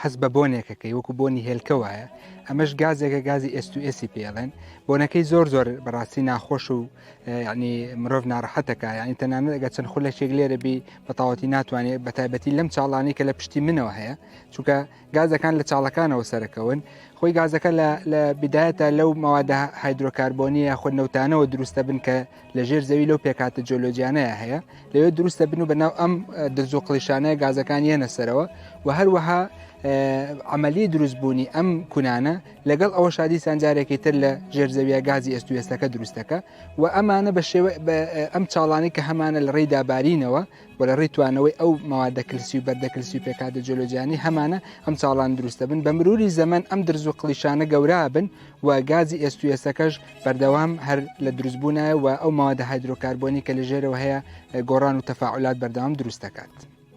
هەست بە بۆنێکەکەی وەکو بۆنی هێلکە وایە ئەمەش گازێکە گازی ئێستوئێسی پێڵێن بۆنەکەی زۆر زۆر بەڕاستی ناخۆش و ینی مرۆڤ ناڕەحەتەکە ینی تەنانە لەگە چەند خولەکێک لێرە بی بەتاوەتی ناتوانێت بە تایبەتی لەم چاڵانی کە لە پشتی منەوە هەیە چونکە گازەکان لە چاڵەکانەوە سەرکەون خۆی گازەکە لە بدایەتە لەو مەوادە هایدرۆکاربۆنیە خۆ نەوتانەوە دروستە بن کە لە ژێر زەوی لەو پێکاتە جۆلۆجیانەیە هەیە لەوێ دروست دەبن و بەناو ئەم درز و قلیشانەیە گازەکان یەنە سەرەوە و هەروەها عملی دروست بوونی ئەم کونانە لەگەڵ ئەوە شادی سانجارێکی تر لە ژێر زەویە گازی ئێستوێستەکە دروستەکە و ئەمانە بە شێوە ئەم چاڵانی کە هەمانە لە ڕێی دابارینەوە و لە ڕێی توانەوەی ئەو مەوادە کلسی و بەردە کلسی و پێکهاتە جۆلۆجیانی هەمانە ئەم چاڵان دروستە بن بە مروری زەمەن ئەم درز و قلیشانە گەورا بن و گازی ئێستوێستەکەش بەردەوام هەر لە دروستبوونایە و ئەو ماوەدە هایدرۆکاربۆنی کە لە ژێرەوە هەیە گۆڕان و تەفاعلات بەردەوام دروست دەکات.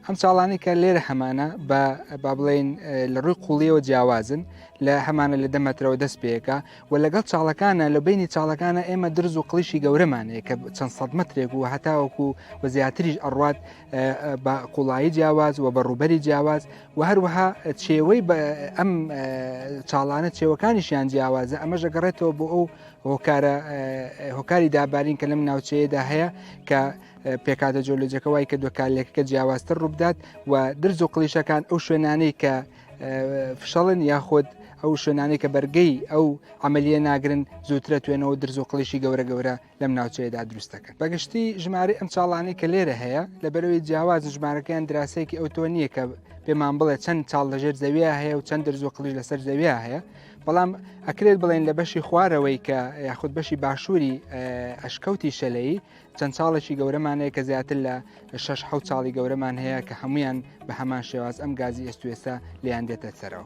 ئەم چاڵانی کە لێرە هەمانە بە با بڵێن لە ڕووی قوڵیەوە جیاوازن لە هەمانە لە دەمەترەوە دەست پێەکە و لەگەڵ چاڵەکانە لە بینی چاڵەکانە ئێمە درز و قلیشی گەورەمان هەیە کە چەند سەد مترێک و هەتاوەکو و زیاتریش ئەڕات بە قوڵایی جیاواز و بە ڕوبەری جیاواز و هەروەها چێوەی ئەم چاڵانە چێوەکانیشیان جیاوازە ئەمە ژەگەڕێتەوە بۆ ئەو هۆکارە هۆکاری دابارین کە لەم ناوچەیەدا هەیە کە پێکاتە جۆلۆجەکە وای کە دوکالێکەکە جیاوازتر ڕووبدات و درز و قلیشەکان ئەو شوێنانەی کە فشەڵن یاخود ئەو شوێنانێک کە بەرگەی ئەو عملیە ناگرن زووترە توێنەوە درز و قڵیشی گەورە گەورە لەم ناوچەیەدا دروستەکە بەگشتی ژماری ئەم چاڵانی کە لێرە هەیە لە بەرەوەی جیاواز ژمارەکەیان دراسەیەکی ئەو تۆ نییە کە پێمان بڵێ چەند چاڵ لەژێر زەویە هەیە و چەند درز و قلیش لەسەر زەویە هەیە بەڵام ئەکرێت بڵێن لە بەشی خوارەوەی کە یاخود بەشی باشووری ئەشکەوتی شەلەی چەند چاڵێکی گەورەمان هەیە کە زیاتر لە شش حە چاڵی گەورەمان هەیە کە هەمویان بە هەمان شێواز ئەم گازی ئێستوێسە لیان دێتە سەرەوە.